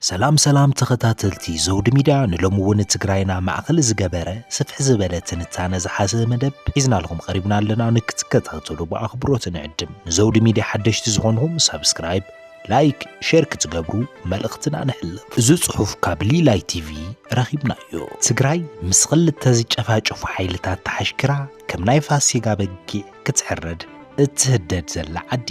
ሰላም ሰላም ተኸታተልቲ ዘውዲ ሚድያ ንሎሚ እውን ትግራይና ማእኸል ዝገበረ ስፍሕ ዝበለ ትንታነ ዝሓዘ መደብ ሒዝናልኹም ቀሪብና ኣለና ንክትከታተሉ ብኣኽብሮት ንዕድም ንዘውዲ ሚድያ ሓደሽቲ ዝኾንኹም ሳብስክራይብ ላይክ ሼር ክትገብሩ መልእኽትና ነሕልፍ። እዚ ጽሑፍ ካብ ሊላይ ቲቪ ረኺብናዮ። ትግራይ ምስ ክልተ ዝጨፋጨፉ ሓይልታት ተሓሽኪራ ከም ናይ ፋሲጋ በጊዕ ክትሕረድ እትህደድ ዘላ ዓዲ።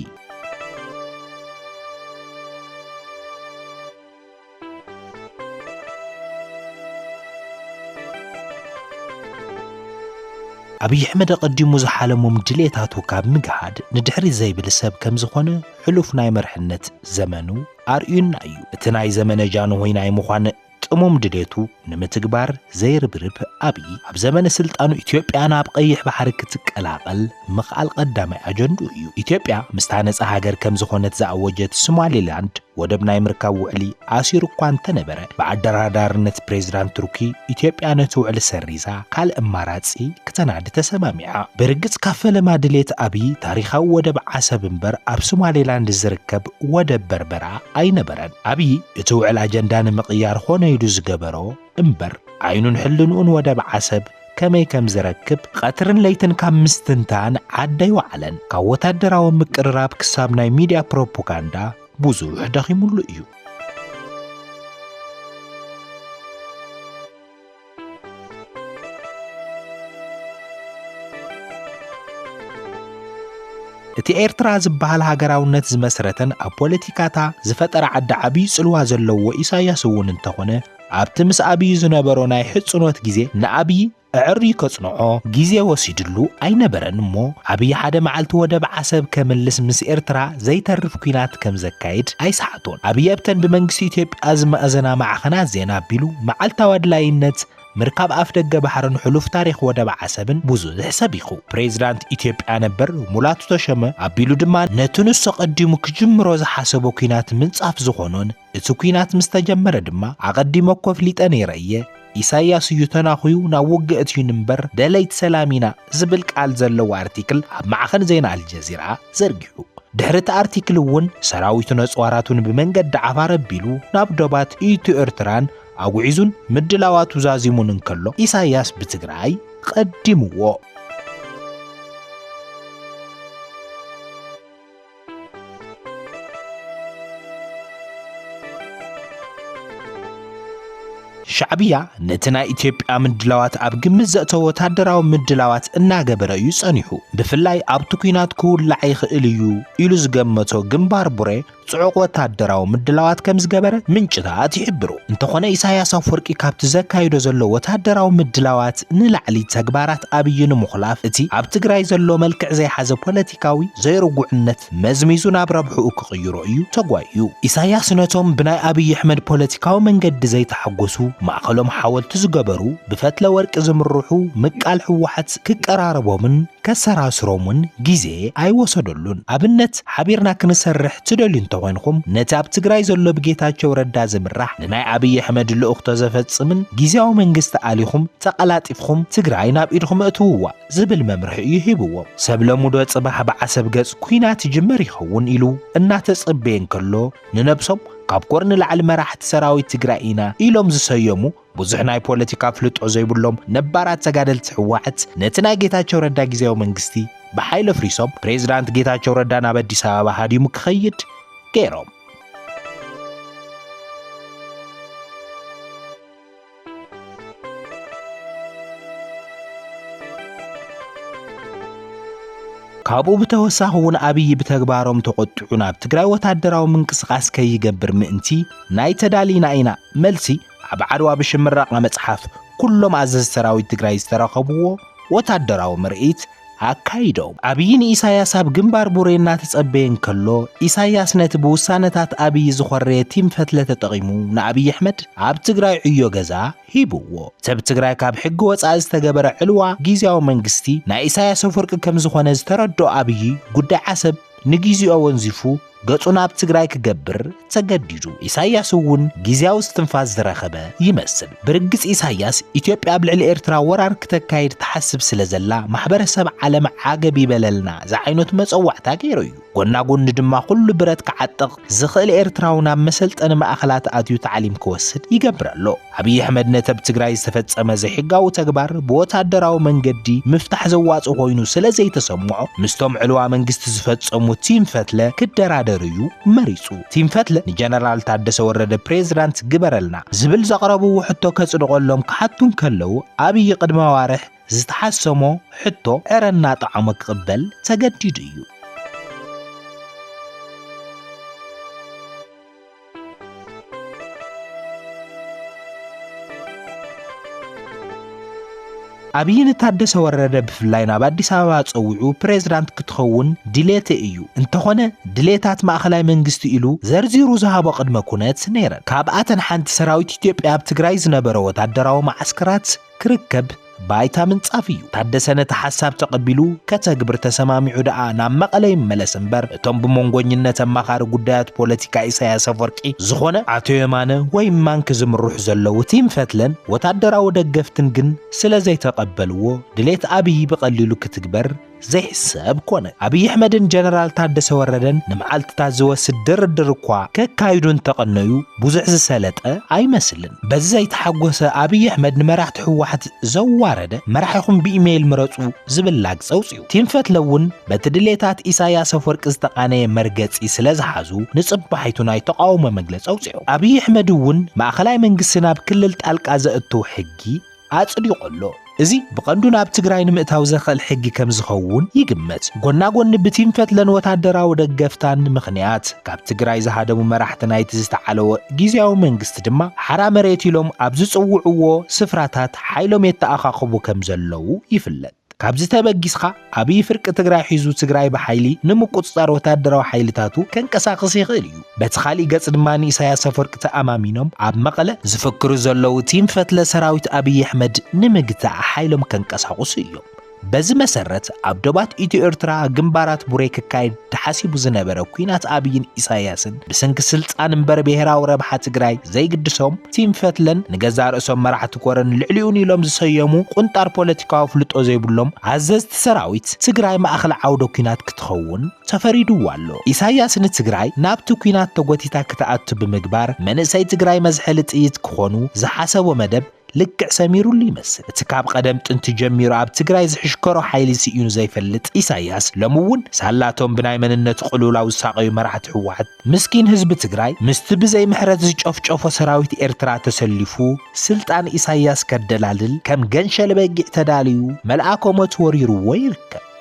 ኣብይ ኣሕመድ ኣቐዲሙ ዝሓለሞም ድሌታቱ ካብ ምግሃድ ንድሕሪ ዘይብል ሰብ ከም ዝኾነ ሕሉፍ ናይ መርሕነት ዘመኑ ኣርእዩና እዩ። እቲ ናይ ዘመነ ጃንሆይ ናይ ምዃን ጥሙም ድሌቱ ንምትግባር ዘይርብርብ ኣብይ ኣብ ዘመነ ስልጣኑ ኢትዮጵያ ናብ ቀይሕ ባሕሪ ክትቀላቐል ምኽኣል ቀዳማይ ኣጀንድኡ እዩ። ኢትዮጵያ ምስታ ነጻ ሃገር ከም ዝኾነት ዝኣወጀት ሶማሊላንድ ወደብ ናይ ምርካብ ውዕሊ ኣሲሩ እኳ እንተነበረ ብኣደራዳርነት ፕሬዝዳንት ቱርኪ ኢትዮጵያ ነቲ ውዕሊ ሰሪዛ ካልእ ኣማራጺ ክተናዲ ተሰማሚዓ። ብርግጽ ካብ ፈለማ ድሌት ኣብይ ታሪኻዊ ወደብ ዓሰብ እምበር ኣብ ሶማሌላንድ ዝርከብ ወደብ በርበራ ኣይነበረን። ኣብይ እቲ ውዕል ኣጀንዳ ንምቕያር ኾነ ኢሉ ዝገበሮ እምበር ዓይኑን ሕልንኡን ወደብ ዓሰብ ከመይ ከም ዝረክብ ቐትርን ለይትን ካብ ምስትንታን ዓዲ ኣይወዓለን። ካብ ወታደራዊ ምቅርራብ ክሳብ ናይ ሚድያ ፕሮፖጋንዳ ብዙሕ ደኺሙሉ እዩ። እቲ ኤርትራ ዝበሃል ሃገራውነት ዝመስረተን ኣብ ፖለቲካታ ዝፈጠረ ዓዲ ዓብዪ ጽልዋ ዘለዎ ኢሳያስ እውን እንተኾነ ኣብቲ ምስ ኣብዪ ዝነበሮ ናይ ሕጽኖት ግዜ ንኣብዪ ኣዐርዩ ከጽንዖ ግዜ ወሲድሉ ኣይነበረን እሞ ኣብዪ ሓደ መዓልቲ ወደብ ዓሰብ ከምልስ ምስ ኤርትራ ዘይተርፍ ኲናት ከም ዘካይድ ኣይሰሓቶን። ኣብዪ ኣብተን ብመንግስቲ ኢትዮጵያ ዝመኣዘና ማዕኸናት ዜና ኣቢሉ መዓልታዊ ኣድላይነት ምርካብ ኣፍደገ ባሕርን ሕሉፍ ታሪኽ ወደብ ዓሰብን ብዙሕ ሰቢኹ። ፕሬዚዳንት ኢትዮጵያ ነበር ሙላቱ ተሾመ ኣቢሉ ድማ ነቲ ንሱ ኣቐዲሙ ክጅምሮ ዝሓሰቦ ኲናት ምንጻፍ ዝኾኖን እቲ ኩናት ምስ ተጀመረ ድማ ኣቐዲመ እኮ ኣፍሊጠ ነይረ እየ፣ ኢሳይያስ እዩ ተናኹዩ ናብ ውግእ እትዩን እምበር ደለይቲ ሰላም ኢና ዝብል ቃል ዘለዎ ኣርቲክል ኣብ ማዕኸን ዜና ኣልጀዚራ ዘርጊሑ። ድሕሪ እቲ ኣርቲክል እውን ሰራዊቱን ኣጽዋራቱን ብመንገዲ ዓፋር ኣቢሉ ናብ ዶባት ኢትዮ ኤርትራን ኣጉዒዙን ምድላዋቱ ዛዚሙን እንከሎ ኢሳይያስ ብትግራይ ቐዲምዎ። ሻዕብያ ነቲ ናይ ኢትዮጵያ ምድላዋት ኣብ ግምት ዘእተወ ወታደራዊ ምድላዋት እናገበረ እዩ ጸኒሑ። ብፍላይ ኣብቲ ኲናት ክውላዕ ይኽእል እዩ ኢሉ ዝገመቶ ግንባር ቡሬ ጽዑቕ ወታደራዊ ምድላዋት ከም ዝገበረ ምንጭታት ይሕብሩ። እንተኾነ ኢሳያስ ኣፈወርቂ ካብቲ ዘካይዶ ዘሎ ወታደራዊ ምድላዋት ንላዕሊ ተግባራት ኣብይ ንምኹላፍ እቲ ኣብ ትግራይ ዘሎ መልክዕ ዘይሓዘ ፖለቲ ፖለቲካዊ ዘይርጉዕነት መዝሚዙ ናብ ረብሕኡ ክቕይሮ እዩ ተጓይዩ። ኢሳያስ ነቶም ብናይ ኣብይ ኣሕመድ ፖለቲካዊ መንገዲ ዘይተሓጎሱ ማእኸሎም ሓወልቲ ዝገበሩ ብፈትለ ወርቂ ዝምርሑ ምቃል ህወሓት ክቀራረቦምን ከሰራስሮምን ጊዜ ኣይወሰደሉን። ኣብነት ሓቢርና ክንሰርሕ ትደልዩ እንተኾይንኹም ነቲ ኣብ ትግራይ ዘሎ ብጌታቸው ረዳ ዝምራሕ ንናይ ኣብይ ኣሕመድ ልእኽቶ ዘፈፅምን ጊዜያዊ መንግስቲ ኣሊኹም ተቐላጢፍኹም ትግራይ ናብ ኢድኹም እእትውዋ። ዝብል መምርሒ እዩ ሂብዎም። ሰብለሙ'ዶ ጽባሕ ብዓሰብ ገጽ ኲናት ይጅመር ይኸውን ኢሉ እናተጸበየ እንከሎ፣ ንነብሶም ካብ ኮር ንላዕሊ መራሕቲ ሰራዊት ትግራይ ኢና ኢሎም ዝሰየሙ ብዙሕ ናይ ፖለቲካ ኣፍልጦ ዘይብሎም ነባራት ተጋደልቲ ህወሓት ነቲ ናይ ጌታቸው ረዳ ግዝያዊ መንግስቲ ብሓይሊ ኣፍሪሶም ፕሬዝዳንት ጌታቸው ረዳ ናብ ኣዲስ ኣበባ ሃዲሙ ክኸይድ ገይሮም። ካብኡ ብተወሳኺ እውን ኣብዪ ብተግባሮም ተቖጢዑ ናብ ትግራይ ወታደራዊ ምንቅስቓስ ከይገብር ምእንቲ ናይ ተዳሊና ኢና መልሲ ኣብ ዓድዋ ብሽም ምረቓ መጽሓፍ ኩሎም ኣዘዝቲ ሰራዊት ትግራይ ዝተረኸብዎ ወታደራዊ ምርኢት ኣካይዶም። ኣብዪ ንኢሳያስ ኣብ ግንባር ቡሬ እናተጸበየ እንከሎ፣ ኢሳያስ ነቲ ብውሳነታት ኣብዪ ዝኾረየ ቲም ፈትለ ተጠቒሙ ንኣብዪ ኣሕመድ ኣብ ትግራይ ዕዮ ገዛ ሂቡዎ። እቲ ኣብ ትግራይ ካብ ሕጊ ወጻኢ ዝተገበረ ዕልዋ ጊዚያዊ መንግስቲ ናይ ኢሳያስ ኣፍወርቂ ከምዝኾነ ዝተረድኦ ኣብዪ ጉዳይ ዓሰብ ንጊዚኦ ወንዚፉ ገጹ ናብ ትግራይ ክገብር ተገዲዱ። ኢሳይያስ እውን ግዝያዊ እስትንፋስ ዝረኸበ ይመስል። ብርግጽ ኢሳይያስ ኢትዮጵያ ኣብ ልዕሊ ኤርትራ ወራር ክተካይድ ትሓስብ ስለ ዘላ ማሕበረሰብ ዓለም ዓገብ ይበለልና ዝዓይነቱ መጸዋዕታ ገይሩ እዩ። ጎና ጎኒ ድማ ኩሉ ብረት ክዓጥቕ ዝኽእል ኤርትራዊ ናብ መሰልጠኒ ማእኸላት ኣትዩ ታዕሊም ክወስድ ይገብር ኣሎ። ኣብይ ኣሕመድ ነቲ ኣብ ትግራይ ዝተፈጸመ ዘይሕጋዊ ተግባር ብወታደራዊ መንገዲ ምፍታሕ ዘዋጽእ ኮይኑ ስለ ዘይተሰምዖ ምስቶም ዕልዋ መንግስቲ ዝፈጸሙ ቲም ፈትለ ክደራደር እዩ መሪጹ። ቲም ፈትለ ንጀነራል ታደሰ ወረደ ፕሬዝዳንት ግበረልና ዝብል ዘቕረብዎ ሕቶ ከጽድቐሎም ክሓቱ እንከለዉ ኣብይ ቅድሚ ኣዋርሕ ዝተሓሰሞ ሕቶ ዕረ እናጠዓሞ ክቕበል ተገዲዱ እዩ። ኣብዪ ንታደሰ ወረደ ብፍላይ ናብ ኣዲስ ኣበባ ፀዊዑ ፕሬዝዳንት ክትኸውን ድሌተ እዩ እንተኾነ ድሌታት ማእኸላይ መንግስቲ ኢሉ ዘርዚሩ ዝሃቦ ቅድመ ኩነት ነይረን ካብኣተን ሓንቲ ሰራዊት ኢትዮጵያ ኣብ ትግራይ ዝነበረ ወታደራዊ መዓስከራት ክርከብ ባይታ ምንጻፍ እዩ። ታደሰ ነቲ ሓሳብ ተቐቢሉ ከተግብር ተሰማሚዑ ደኣ ናብ መቐለ ይመለስ እምበር እቶም ብመንጎኝነት ኣማኻሪ ጉዳያት ፖለቲካ ኢሳያስ ኣፍወርቂ ዝኾነ ኣቶ የማነ ወይ እማንኪ ዝምርሑ ዘለዉ ቲም ፈትለን ወታደራዊ ደገፍትን ግን ስለዘይተቐበልዎ ድሌት ኣብይ ብቐሊሉ ክትግበር ዘይሕሰብ ኮነ። ኣብይ ኣሕመድን ጀነራል ታደሰ ወረደን ንመዓልትታት ዝወስድ ድርድር እኳ ከካይዱ እንተቐነዩ ብዙሕ ዝሰለጠ ኣይመስልን። በዚ ዘይተሓጎሰ ኣብይ ኣሕመድ ንመራሕቲ ህወሓት ዘዋረደ መራሒኹም ብኢሜይል ምረፁ ዝብል ላግፂ ኣውፂኡ። ቲም ፈትለ እውን በቲ ድሌታት ኢሳያስ ኣፍወርቂ ዝተቓነየ መርገፂ ስለዝሓዙ ንፅባሒቱ ናይ ተቓውሞ መግለፂ ኣውፂኦም። ኣብይ ኣሕመድ እውን ማእኸላይ መንግስቲ ናብ ክልል ጣልቃ ዘእትው ሕጊ ኣጽዲቑ ኣሎ። እዚ ብቐንዱ ናብ ትግራይ ንምእታው ዘኽእል ሕጊ ከም ዝኸውን ይግመት። ጎና ጎኒ ብቲም ፈትለን ወታደራዊ ደገፍታን ምኽንያት ካብ ትግራይ ዝሃደሙ መራሕቲ ናይቲ ዝተዓለወ ጊዚያዊ መንግስቲ ድማ ሓራ መሬት ኢሎም ኣብ ዝጽውዕዎ ስፍራታት ሓይሎም የተኣኻኽቡ ከም ዘለዉ ይፍለጥ። ካብዚ ተበጊስኻ ኣብይ ፍርቂ ትግራይ ሒዙ ትግራይ ብሓይሊ ንምቁፅፃር ወታደራዊ ሓይልታቱ ከንቀሳቕስ ይኽእል እዩ። በቲ ካሊእ ገፅ ድማ ንኢሳያስ ኣፈወርቂ ተኣማሚኖም ኣብ መቐለ ዝፍክሩ ዘለዉ ቲም ፈትለ ሰራዊት ኣብይ ኣሕመድ ንምግታእ ሓይሎም ከንቀሳቕሱ እዮም። በዚ መሰረት ኣብ ዶባት ኢትዮ ኤርትራ ግንባራት ቡሬ ክካየድ ተሓሲቡ ዝነበረ ኩናት ኣብይን ኢሳያስን ብስንኪ ስልጣን እምበር ብሄራዊ ረብሓ ትግራይ ዘይግድሶም ቲም ፈትለን ንገዛእ ርእሶም መራሕቲ ኮረን ልዕሊኡን ኢሎም ዝሰየሙ ቁንጣር ፖለቲካዊ ኣፍልጦ ዘይብሎም ኣዘዝቲ ሰራዊት ትግራይ ማእኸል ዓውደ ኩናት ክትኸውን ተፈሪድዋ ኣሎ። ኢሳያስ ንትግራይ ናብቲ ኩናት ተጎቲታ ክትኣቱ ብምግባር መንእሰይ ትግራይ መዝሐሊ ጥይት ክኾኑ ዝሓሰቦ መደብ ልክዕ ሰሚሩሉ ይመስል እቲ ካብ ቐደም ጥንቲ ጀሚሩ ኣብ ትግራይ ዝሕሽከሮ ሓይሊ ስኢኑ ዘይፈልጥ ኢሳያስ ሎሚ እውን ሳላቶም ብናይ መንነት ቕልውላው ዝሳቐዩ መራሕቲ ህወሓት ምስኪን ህዝቢ ትግራይ ምስቲ ብዘይ ምሕረት ዝጨፍጨፎ ሰራዊት ኤርትራ ተሰሊፉ ስልጣን ኢሳያስ ከደላልል ከም ገንሸል በጊዕ ተዳልዩ መልኣከ ሞት ወሪርዎ ይርከብ።